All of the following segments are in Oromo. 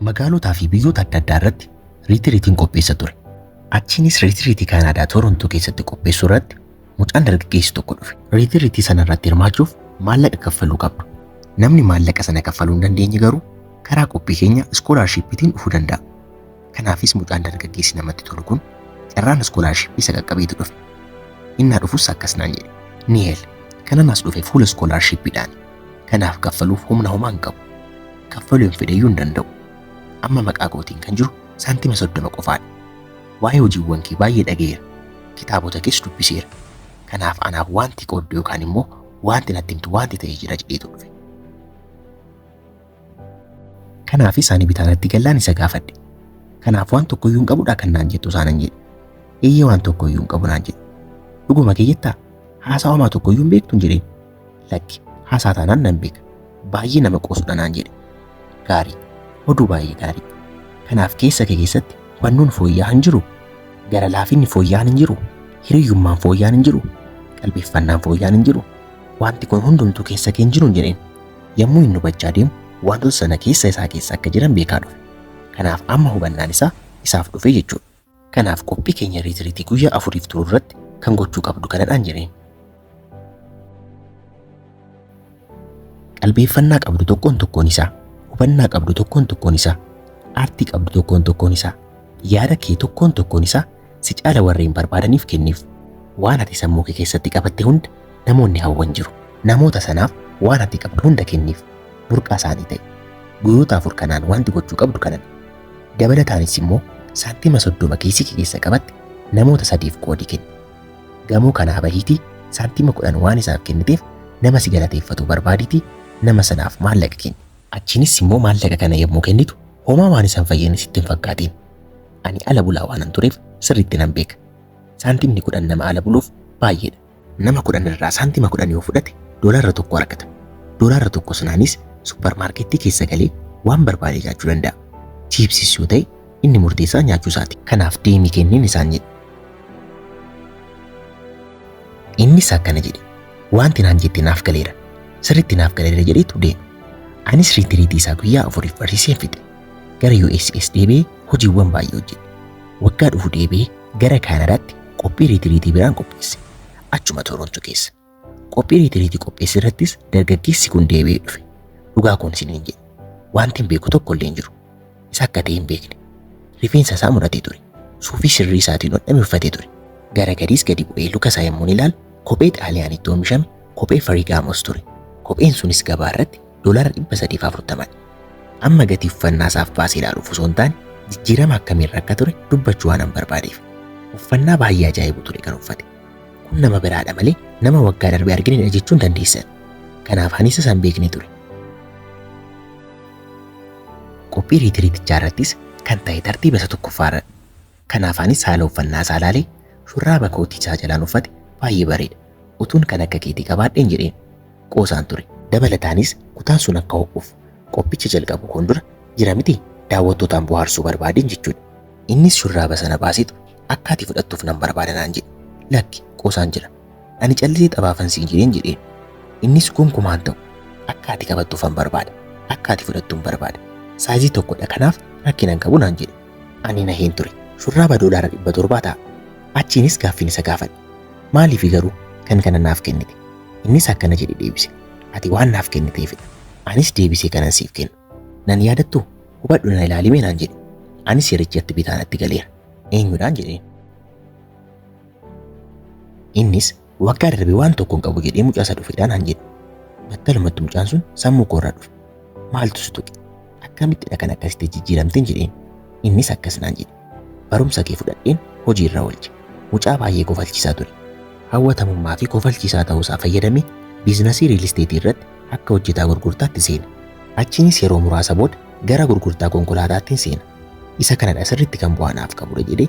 Magaalotaa fi biyyoota adda addaa irratti riitiriitiin qopheessa ture. Achiinis riitiriitii Kaanaadaa Toorontoo keessatti qopheessuu irratti mucaan dargaggeessi tokko dhufe. Riitiriitii sana irratti hirmaachuuf maallaqa kaffaluu qabdu. Namni maallaqa sana kaffaluu hin dandeenye garuu karaa qophii keenya iskoolaarshiippiitiin dhufuu danda'a. Kanaafis mucaan dargaggeessi namatti tolu kun carraan iskoolaarshippii isa qaqqabeetu dhufe. Innaa dhufus akkas naan jedhe. Niheel, kanan as dhufe fuula iskoolaarshippiidhaani. Kanaaf kaffaluuf humna homaa hin qabu. Kaffaluu hin fedheyyuu hin danda'u. Amma maqaa kootiin kan jiru saantima soddoma qofaadha. Waa'ee hojiiwwan kee baay'ee dhaga'eera. Kitaabota kees dubbiseera. Kanaaf anaaf waanti qooddu yookaan immoo waanti natti himtu waanti ta'e jira jedheetu dhufe. Kanaafis ani bitaanatti gallaan isa gaafadhe. Kanaaf waan tokko iyyuu hin qabudhaa kan naan jettu isaanan jedhe. Eeyyee waan tokko iyyuu hin qabu naan jedhe. Dhuguma kee jettaa? Haasaa homaa tokko iyyuu hin beektu hin jedheen. Lakki haasaa taanaan nan beeka. Baay'ee nama qoosudha naan jedhe. Gaarii. Oduu baay'ee gaarii. Kanaaf keessa kee keessatti hubannoon fooyya'aa hin jiru. Gara laafinni fooyya'aan hin jiru. Hiriyyummaan fooyya'aan hin jiru. Qalbeeffannaan fooyya'aan hin jiru. Wanti kun hundumtuu keessa kee hin jiru hin jedheen. Yommuu inni hubachaa deemu wantoota sana keessa isaa keessa akka jiran beekaa dhufe. Kanaaf amma hubannaan isaa isaaf dhufe jechuudha. Kanaaf qophii keenya riitiriitii guyyaa afuriif turu irratti kan gochuu qabdu kanadhaan jedheen. Qalbeeffannaa qabdu tokkoon tokkoon isaa, hubannaa qabdu tokkoon tokkoon isaa, aartii qabdu tokkoon tokkoon isaa, yaada kee tokkoon tokkoon isaa Si caala warreen barbaadaniif kenniif. Waan ati sammuu kee keessatti qabatte hunda namoonni hawwan jiru. Namoota sanaaf waan ati qabdu hunda kenniif. Burqaa isaanii ta'i. Guyyoota afur kanaan wanti gochuu qabdu kanadha. Dabalataanis immoo saantima 30 kiisii kee keessa qabatte namoota sadiif qoodi kenni. Gamoo kanaa bahiitii saantima 10 waan isaaf kenniteef nama si galateeffatu barbaadiitii nama sanaaf maallaqa kenni. Achiinis immoo maallaqa kana yommuu kennitu homaa waan isaan fayyadne sitti hin fakkaatiin. Ani ala bulaa waanan tureef sirriitti nan beeka. Saantimni kudhan nama ala buluuf baay'eedha. Nama kudhan irraa saantima kudhan yoo fudhate doolaarra tokko argata. Doolaarra tokko sanaanis supparmaarkettii keessa galee waan barbaade nyaachuu danda'a. Chiipsiis yoo ta'e inni murteessaa nyaachuu isaati. Kanaaf deemii kenniin isaan jedhe. Innis akkana jedhe. Wanti naan jette naaf galeera. Sirriitti naaf galeera jedheetu deeme. Anis riitiriitii isaa guyyaa afuriif barsiiseen fixe. Gara USAs deebi'ee hojiiwwan baay'ee hojjete. Waggaa dhufu deebi'ee gara Kaanadaatti qophii riitiriitii biraan qopheesse. Achuma Toronto keessa. Qophii riitiriitii qopheesse irrattis dargaggeessi kun deebi'ee dhufe. Dhugaa koon isiniin jedhe. Wanti hin beeku tokko illee hin jiru. Isa akka ta'e hin beekne. Rifeensa isaa muratee ture. Suufii sirrii isaatiin hodhame uffatee ture. Gara gadiis gadi bu'ee luka isaa yommuun ilaalu kophee Xaaliyaanitti oomishame kophee Farigaamos ture. Kopheen sunis gabaa irratti doolaara 340 dha. Amma gatii uffannaa isaaf baasee ilaaluuf osoo hin taane jijjiirama akkamiirra akka ture dubbachuu waanan barbaadeef. Uffannaa baay'ee ajaa'ibu ture kan uffate. Kun nama biraadha malee nama waggaa darbe arginedha jechuun dandeessan. Kanaaf anis isaan beekne ture. Qophii riitiriitichaa irrattis kan ta'e tartiiba isa tokkoffaa irra Kanaaf anis haala uffannaa isaa ilaalee shurraaba koo tiichaa jalaan uffate baay'ee bareeda. Utuun kan akka keetii qabaadheen jedheen. Qoosaan ture. Dabalataanis kutaan sun akka ho'uuf qophicha jalqabuu koon dura jira mitii daawwattootaan bohaarsuu barbaadeen jechuudha. Innis shurraaba sana baaseetu akka ati fudhattuuf nan barbaada naan jedhe. Lakki, Qoosaan jira. Ani callisee xabaafan siin jedheen jedheen. Innis gonkumaa hin ta'u. Akka ati qabattuufan barbaada. Akka ati fudhattuun barbaada. Saayizii tokkodha kanaaf rakkina hin qabu naan jedhe. Ani naheen ture. Shurraaba doolaara dhibba torbaa ta'a. Achiinis gaaffiin isa gaafadhe. Maaliifi garuu kan kana naaf kennite? Innis akkana jedhe deebise. Ati waan naaf kenniteefidha. Anis deebisee kanan siif kennu. Nan yaadattuu? Hubadhu na ilaalimee naan jedhe. Anis yerichatti bitaa natti galeera. Eenyudhaan jedheen. Innis waggaa darbe waan tokko hin qabu jedhee mucaa isa dhufeedhaan han jedhe. Battalumatti mucaan sun sammuu koorraa dhufe. Maaltu si tuqe? Akkamittidha kan akkasitti jijjiiramteen jedheen. Innis akkas naan jedhe. Barumsa kee fudhadheen hojii irra oolche. Mucaa baay'ee kofalchiisaa ture. Hawwatamummaa fi kofalchiisaa ta'uusaa fayyadamee biiznasii riil isteetii irratti akka hojjetaa gurgurtaatti seene. Achiinis yeroo muraasa booda gara gurgurtaa konkolaataattiin seena. Isa kanadha sirriitti kan bu'aa naaf qabudha jedhee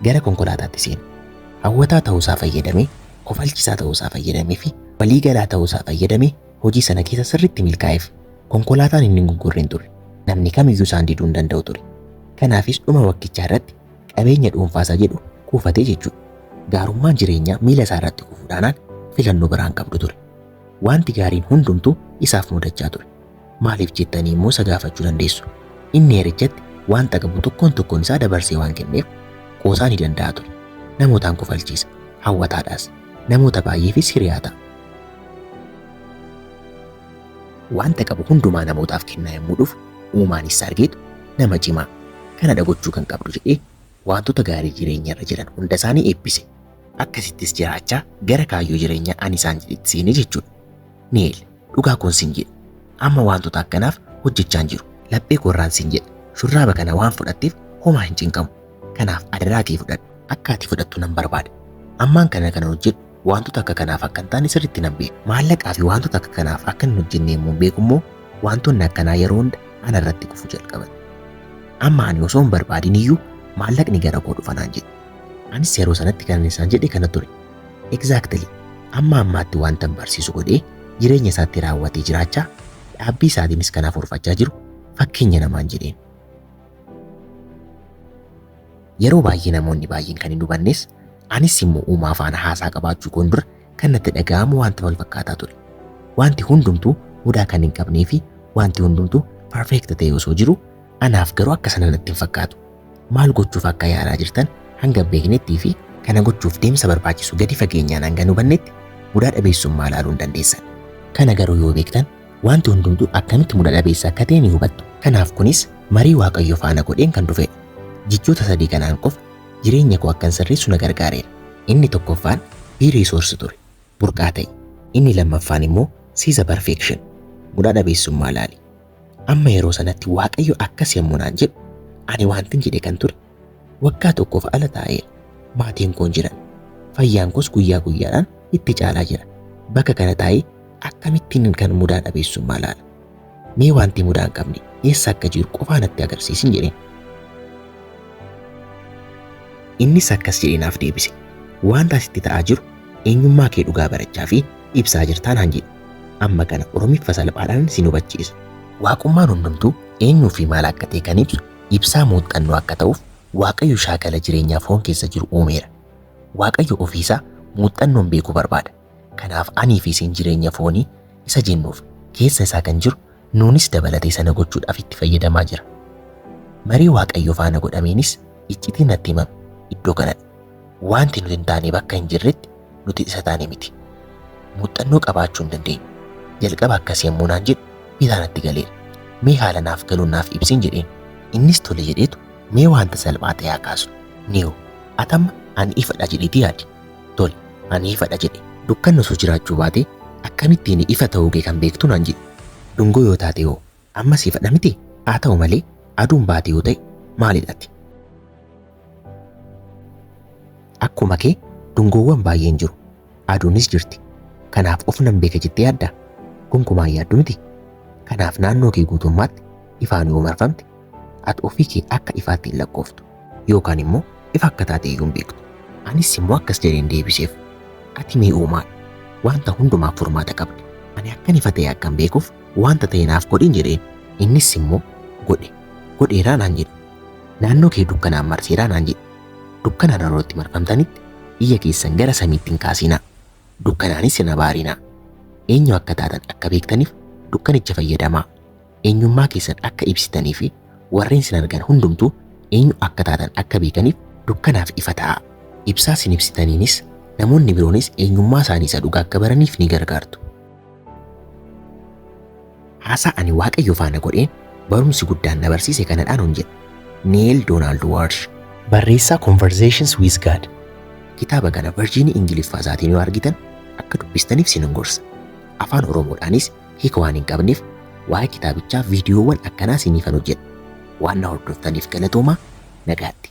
Gara konkolaataatti seenu. Hawwataa ta'uusaa fayyadamee, kofalchisaa ta'uusaa fayyadamee fi waliigalaa ta'uusaa fayyadamee hojii sana keessa sirriitti milkaa'eef. Konkolaataan inni hin gurgurre hin turre. Namni kamiyyuu isaan diduu hin danda'u ture. Kanaafis dhuma waggichaa irratti qabeenya dhuunfaasaa jedhu kuufate jechuudha. Gaarummaan jireenyaa miila isaa irratti kufuu dhaanaan filannoo biraa hin qabdu ture. Waanti gaariin hundumtuu isaaf mudachaa ture. Maaliif jettanii immoo isa gaafachuu dandeessu. Inni heerichatti wanta qabu tokkoon tokkoon isaa dabarsee waan kenneef, qoosaa ni danda'a ture. Namootaan kofalchiisa, hawwataadhas. Namoota baay'eefis hiriyaa ta'a. Wanta qabu hundumaa namootaaf kennaa yommuu dhufu, uumaan isa argeetu, Nama cimaa, kanadha gochuu kan qabdu jedhee wantoota gaarii jireenya irra jiran hunda isaanii eebbise. Akkasittis jiraachaa gara kaayyoo jireenyaa ani isaan jedhetti seene jechuudha. Neel. Dhugaa koon siin jedhe. Amma waantota akkanaaf hojjechaan jiru. Laphee koorraan siin jedhe. Shurraaba kana waan fudhatteef homaa hin cinqamu. Kanaaf adaraa kee fudhadhu. Akka ati fudhattu nan barbaada. Ammaan kana kanan hojjedhu waantota akka kanaaf akka hin taane sirriitti nan beeka. Maallaqaa fi waantota akka kanaaf akka hin hojjenne yommuun beeku immoo waantonni akkanaa yeroo hunda ana irratti kufu jalqaban. Amma ani osoo hin barbaadin iyyuu maallaqni gara koo dhufa naan jedhe. Anis yeroo sanatti kanan isaan jedhe kana ture. Exactly. Amma ammaatti waantan barsiisu godhee jireenya isaatti raawwatee jiraachaa dhaabbii isaatiinis kan hafuurfachaa jiru fakkeenya namaan jedheen. Yeroo baay'ee namoonni baay'een kan hin hubannes anis immoo uumaa faana haasaa qabaachuu koon dura kan natti dhaga'amu wanta wal fakkaataa ture. Wanti hundumtuu mudaa kan hin qabnee fi wanti hundumtuu perfect ta'e osoo jiru anaaf garuu akka sana natti hin fakkaatu. Maal gochuuf akka yaalaa jirtan hanga beeknettii fi kana gochuuf deemsa barbaachisu gadi fageenyaan hanga hin hubannetti mudaa dhabeessummaa ilaaluu hin dandeessan. Kana garuu yoo beektan wanti hundumtuu akkamitti muda dhabeessa akka ta'e ni hubattu. Kanaaf kunis marii Waaqayyo faana godheen kan dhufedha. Jechoota sadii kanaan qofa jireenya koo akkan sirreessu na gargaareera. Inni tokkoffaan Be Resource ture, burqaa ta'i. Inni lammaffaan immoo See the Perfection, mudaa dhabeessummaa ilaali. Amma yeroo sanatti Waaqayyo akkas yommuu naan jedhu, ani wantin jedhe kan ture, waggaa tokkoof ala taa'eera. Maatiin koon jiran. Fayyaan koos guyyaa guyyaadhaan itti caalaa jira. Bakka kana taa'ee akkamittiin kan mudaa dhabeessummaa laala? Mee wanti mudaa hin qabne eessa akka jiru qofaa natti agarsiisin jedheen. Innis akkas jedhee naaf deebise. Wanta asitti ta'aa jiru eenyummaa kee dhugaa barachaa fi ibsaa jirtaa naan jedhe. Amma kana Oromiffa salphaadhaan sin hubachiisa. Waaqummaan hundumtuu eenyuu fi maal akka ta'e kan ibsu ibsaa muuxxannoo akka ta'uuf Waaqayyo shaakala jireenyaa foon keessa jiru uumeera. Waaqayyo ofii isaa muuxxannoon beekuu barbaada. Kanaaf anii fi isin jireenya foonii isa jennuuf keessa isaa kan jiru Nuunis dabalatee sana gochuudhaaf itti fayyadamaa jira. Marii Waaqayyo faana godhameenis iccitiin natti himame iddoo kanadha. Waanti nuti hin taane bakka hin jirretti nuti isa taane miti. Muuxxannoo qabaachuu hin dandeenyu. Jalqaba akkas yommuu naan jedhu bitaa natti galeera. Mee haala naaf galuun naaf ibsiin jedheen. Innis tole jedheetu mee waanta salphaa ta'e haa kaasnu. Niiw, atamma ani ifadha jedheeti yaadi. Tole, ani ifadha jedhe. Dukkanni osoo jiraachuu baate akkamittiin ifa ta'uu kee kan beektu naan jedhe. Dungoo yoo taate hoo ammas ifadha miti? Haa ta'u malee aduun baate yoo ta'e maalidha ati? Akkuma kee dungoowwan baay'een jiru. Aduunis jirti. Kanaaf of nan beeka jettee yaaddaa? Gonkumaa hin yaaddu miti. Kanaaf naannoo kee guutummaatti ifaan yoo marfamte Ati ofii kee akka ifaatti hin lakkooftu, yookaan immoo ifa akka taate iyyuu hin beektu. Anis immoo akkas jedheen deebiseef, Ati mee uumaadha, wanta hundumaaf furmaata qabda. Ani akkan ifa ta'e akkan beekuuf wanta ta'e naaf godhin jedheen. Innis immoo, Godhe, godheeraa naan jedhe. Naannoo kee dukkanaan marseeraa naan jedhe. Dukkana naannoo itti marfamtanitti ija keessan gara samiitti hin kaasinaa, dukkanaanis hin abaarinaa. Eenyu akka taatan akka beektaniif dukkanicha fayyadamaa. eenyummaa keessan akka ibsitanii fi warreen sin argan hundumtuu eenyu akka taatan akka beekaniif dukkanaaf ifa ta'aa. Ibsaa sin ibsitaniinis namoonni biroonis eenyummaa isaanii isa dhugaa akka baraniif ni gargaartu. Haasaa ani Waaqayyo faana godheen barumsi guddaan na barsiise kanadhaan hon jedhe. Neel Doonaald Waarsh. Barreessaa Conversations with God. Kitaaba kana Virjiinii Ingiliffaa isaatiin yoo argitan akka dubbistaniif sin gorsa. Afaan Oromoodhaanis hiika waan hin qabneef waa'ee kitaabichaa viidiyoowwan akkanaa siiniifan hojjedha. Waan na hordoftaniif galatoomaa. Nagaatti.